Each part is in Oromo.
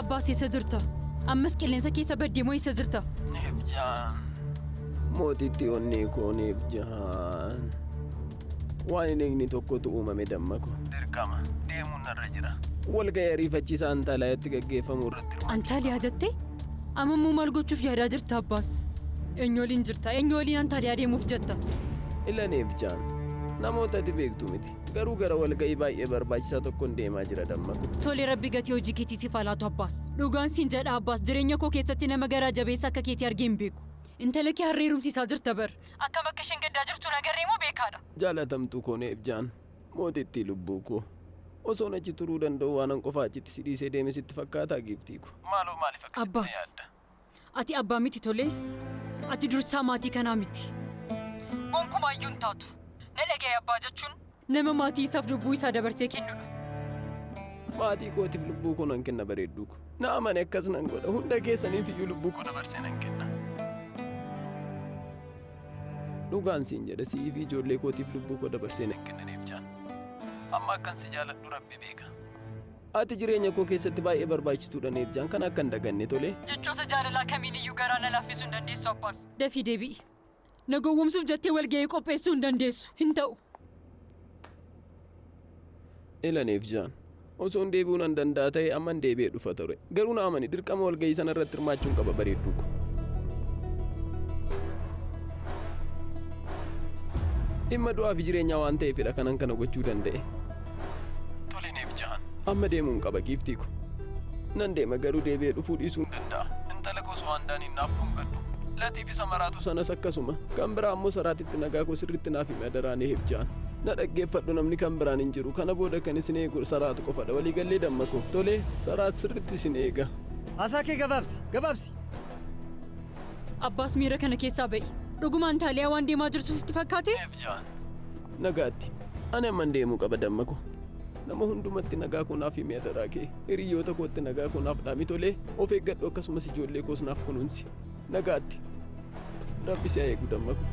Abbaas eessa jirta? Ammas qilleensa keessa baddee moo eessa jirta? Mootitti onnee koo neef jahaan. Waan hin eegne tokkotu uumame damma koo. Dirqama deemuun narra jira. Walga'ii ariifachiisaa Antaaliyaatti gaggeeffamu irratti Antaaliyaa jettee? Amma immoo maal gochuuf yaadaa jirta Abbaas? Eenyu waliin jirta? Eenyu waliin Antaaliyaa deemuuf jetta? Ilanee fi Jaan, namoota ati beektu miti. Garuu gara walga'ii baay'ee barbaachisaa tokkon deemaa jira damma ko. Tole Rabbi gatii hojii keetii siif haa laatu Abbaas. Dhugaan siin jedha Abbaas jireenya koo keessatti nama garaa jabeessa akka keetii argee hin beeku. Intala kee har'a heerumsiisaa jirta bar. Akkam akka isheen gaddaa jirtu hin agarree moo beekaadha. Jaalatamtuu koo Neebjaan. Mootittii lubbuu koo. Osoon achi turuu danda'uu waanan qofaa achitti si dhiisee deeme sitti fakkaataa Giiftii koo? Maaloo maaliif akkasitti na yaadda? Abbaas, ati abbaa miti tolee? Ati dursaa maatii kanaa miti. Gonkumaa iyyuu hin taatu. Na dhaga'i abbaa jechuun nama maatii isaaf lubbuu isaa dabarsee kennudha. Maatii kootiif lubbuu koo nan kenna bareedduu koo. Na amani akkas nan godha. Hunda keessaniif iyyuu lubbuu koo dabarsee nan kenna. Dhugaan siin jedha si'ii fi ijoollee kootiif lubbuu koo dabarseen hin kennineef Jaan. Amma akkan si jaaladhu Rabbi beeka. Ati jireenya koo keessatti baay'ee barbaachituudha Neef Jaan kana akka hin daganne tolee. Jechoota jaalalaa kamiin iyyuu garaa na laaffisuu hin dandeessu Abbaas. Dafii deebi'i. Na gowwomsuuf jettee walga'ii qopheessuu hin dandeessu. Hin ta'u. Elanef Jaan. Osoon deebi'uu nan danda'a ta'ee amman deebi'ee dhufa ture. Garuu na amani dirqama walgahii sana irratti hirmaachuun qaba bareedduu ko. Dhimma du'aa fi jireenyaa waan ta'eefidha kanan kana gochuu danda'e. Tole Neef Jaan. Amma deemuun qaba giiftii ko. Nan deema garuu deebi'ee dhufuu dhiisuu hin danda'a. Intala koo Suwaandaan hin naaf dhungadhu. Latii Isa maraatu sanas akkasuma. Kan biraa ammoo saraatitti nagaa koo sirriitti naaf himi adaraa ni hibjaan. Na dhaggeeffadhu namni kan biraan hin jiru. Kana booda kan isin eegu saraatu qofadha. Waliigallee damma koo. Tolee, saraat sirriitti isin eega. Haasaa kee gabaabsi! Gabaabsi! Abbaas miira kana keessaa ba'i. Dhugumaan Taaliyaa waan deemaa jirtu sitti fakkaate? Hibjaan. Nagaatti. Ani amman deemuu qaba damma koo. Nama hundumatti nagaa koo naaf himi adaraa kee. Hiriyoota kootti nagaa koo naaf dhaami tolee. Of eeggadhu akkasumas ijoollee koos naaf kunuunsi. Nagaatti. Rabbi si haa eegu damma ko.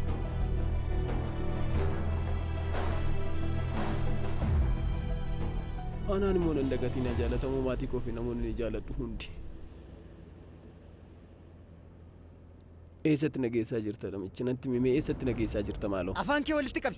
Anaan immoo nan dagatii na jaalatamoo maatii koo fi namoonni ni jaaladhu hundi. Eessatti na geessaa jirta namichi natti mimee eessatti na geessaa jirta maaloo. Afaan kee walitti qabi.